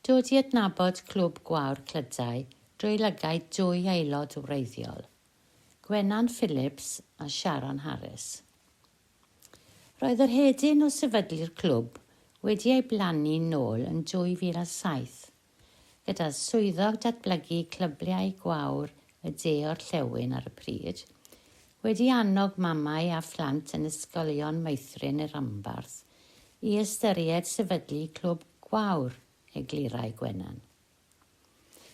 Dod i adnabod Clwb Gwawr Clydau drwy lygaid dwy aelod wreiddiol, Gwenan Phillips a Sharon Harris. Roedd yr hedyn o sefydlu'r clwb wedi ei blannu'n nôl yn 2007, gyda Swyddog Datblygu Clybiau Gwawr y De-orllewin ar y pryd, wedi annog mamau a phlant yn Ysgolion Meithrin y Rhanbarth i ystyried sefydlu Clwb Gwawr Eglurau Gwenan.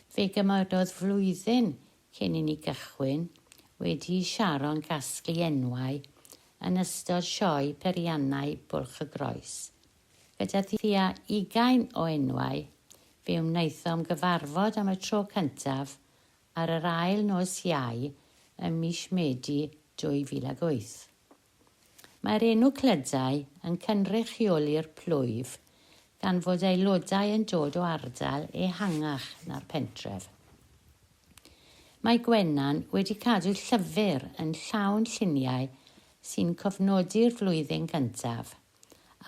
Fe gymerodd flwyddyn cyn i ni gychwyn, wedi i Sharon gasglu enwau yn ystod sioe Periannau Bwlch y Groes. Gyda thua ugain o enwau, fe wnaethom gyfarfod am y tro cyntaf ar yr ail nos Iau ym mis Medi 2008. Mae'r enw Clydau yn cynrychioli'r plwyf gan fod aelodau yn dod o ardal ehangach na'r pentref. Mae Gwenan wedi cadw llyfr yn llawn lluniau sy'n cofnodi'r flwyddyn gyntaf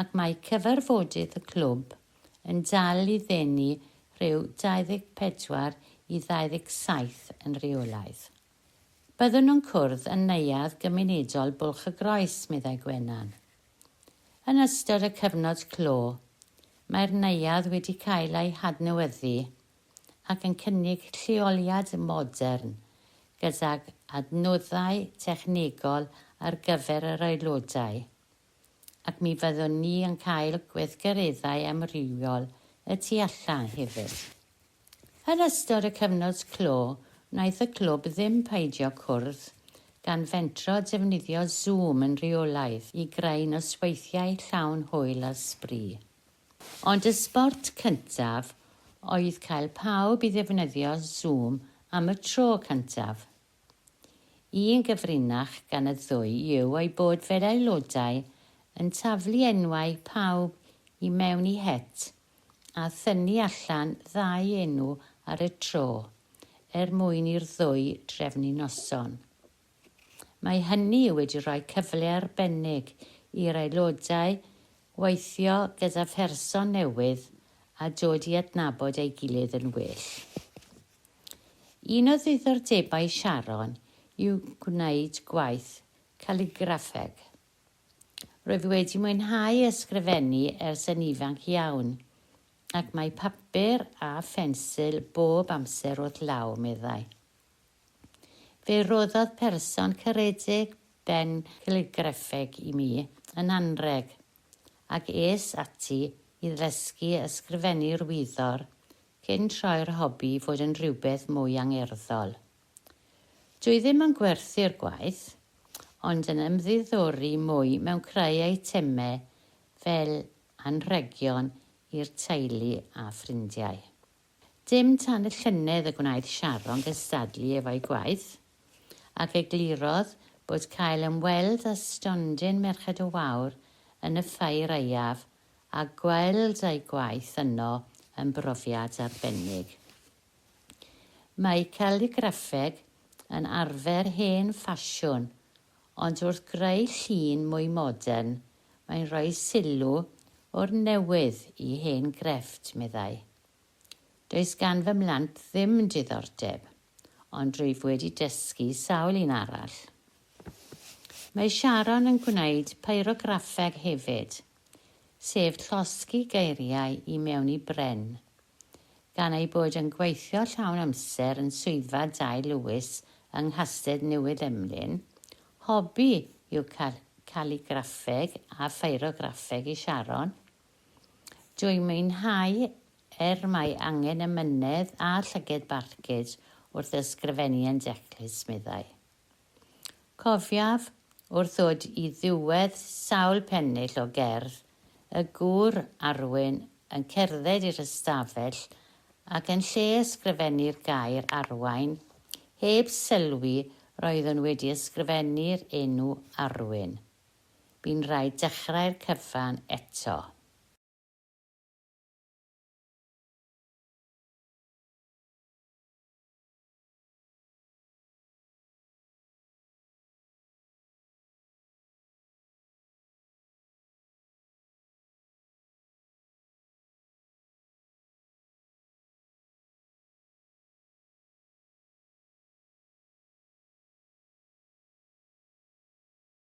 ac mae cyfarfodydd y clwb yn dal i ddenu rhyw 24 i 27 yn reolaidd. Byddwn yn cwrdd yn Neuadd Gymunedol Bwlch-y-groes, meddai Gwenan. Yn ystod y cyfnod clo, mae'r neuadd wedi cael ei hadnewyddu ac yn cynnig lleoliad modern gydag adnoddau technegol ar gyfer yr aelodau. ac mi fyddwn ni yn cael gweithgareddau amrywiol y tu allan hefyd. Yn ystod y cyfnod clo, wnaeth y clwb ddim peidio cwrdd, gan fentro a defnyddio Zoom yn rheolaidd i greu nosweithiau llawn hwyl a sbri. Ond y sbort cyntaf oedd cael pawb i ddefnyddio Zoom am y tro cyntaf. Un gyfrinach gan y ddwy yw ei bod fe'r aelodau yn taflu enwau pawb i mewn i het a thynnu allan ddau enw ar y tro er mwyn i'r ddwy drefnu noson. Mae hynny wedi rhoi cyfle arbennig i'r aelodau weithio gyda pherson newydd a dod i adnabod ei gilydd yn well. Un o ddiddordebau Sharon yw gwneud gwaith caligraffeg. Rwyf wedi mwynhau ysgrifennu ers yn ifanc iawn, ac mae papur a phensil bob amser wrth law, meddai. Fe roddodd person caredig ben caligraffeg i mi yn anrheg, ac es ati i ddysgu ysgrifennu'r wyddor cyn troi'r hobi i fod yn rhywbeth mwy angerddol. Dwi ddim yn gwerthu'r gwaith, ond yn ymddiddori mwy mewn creu eitemau fel anrhegion i'r teulu a ffrindiau. Dim tan y llynedd y gwnaeth Sharon gystadlu efo'i gwaith, ac eglurodd bod cael ymweld â stondin Merched y Wawr yn y Ffair Aeaf a gweld ei gwaith yno yn brofiad arbennig. Mae caligraffeg yn arfer hen ffasiwn, ond wrth greu llun mwy modern, mae'n rhoi sylw o'r newydd i hen grefft, meddai. Does gan fy mhlant ddim diddordeb. ond rwyf wedi dysgu sawl un arall. Mae Sharon yn gwneud pyrograffeg hefyd, sef llosgi geiriau i mewn i bren. Gan ei bod yn gweithio llawn amser yn Swyddfa Dai Lewis yng Nghastell Newydd Emlyn, hobi yw caligraffeg a phyrograffeg i Sharon, Dw i'n mwynhau er mae angen emynedd a llyged barcud wrth ysgrifennu yn declus, meddai. Cofiaf, wrth ddod i ddiwedd sawl pennill o gerdd, y gŵr, Arwyn, yn cerdded i'r ystafell ac yn lle ysgrifennu'r gair 'arwain', heb sylwi roeddwn wedi ysgrifennu'r enw 'Arwyn'. Bu'n rhaid dechrau'r cyfan eto.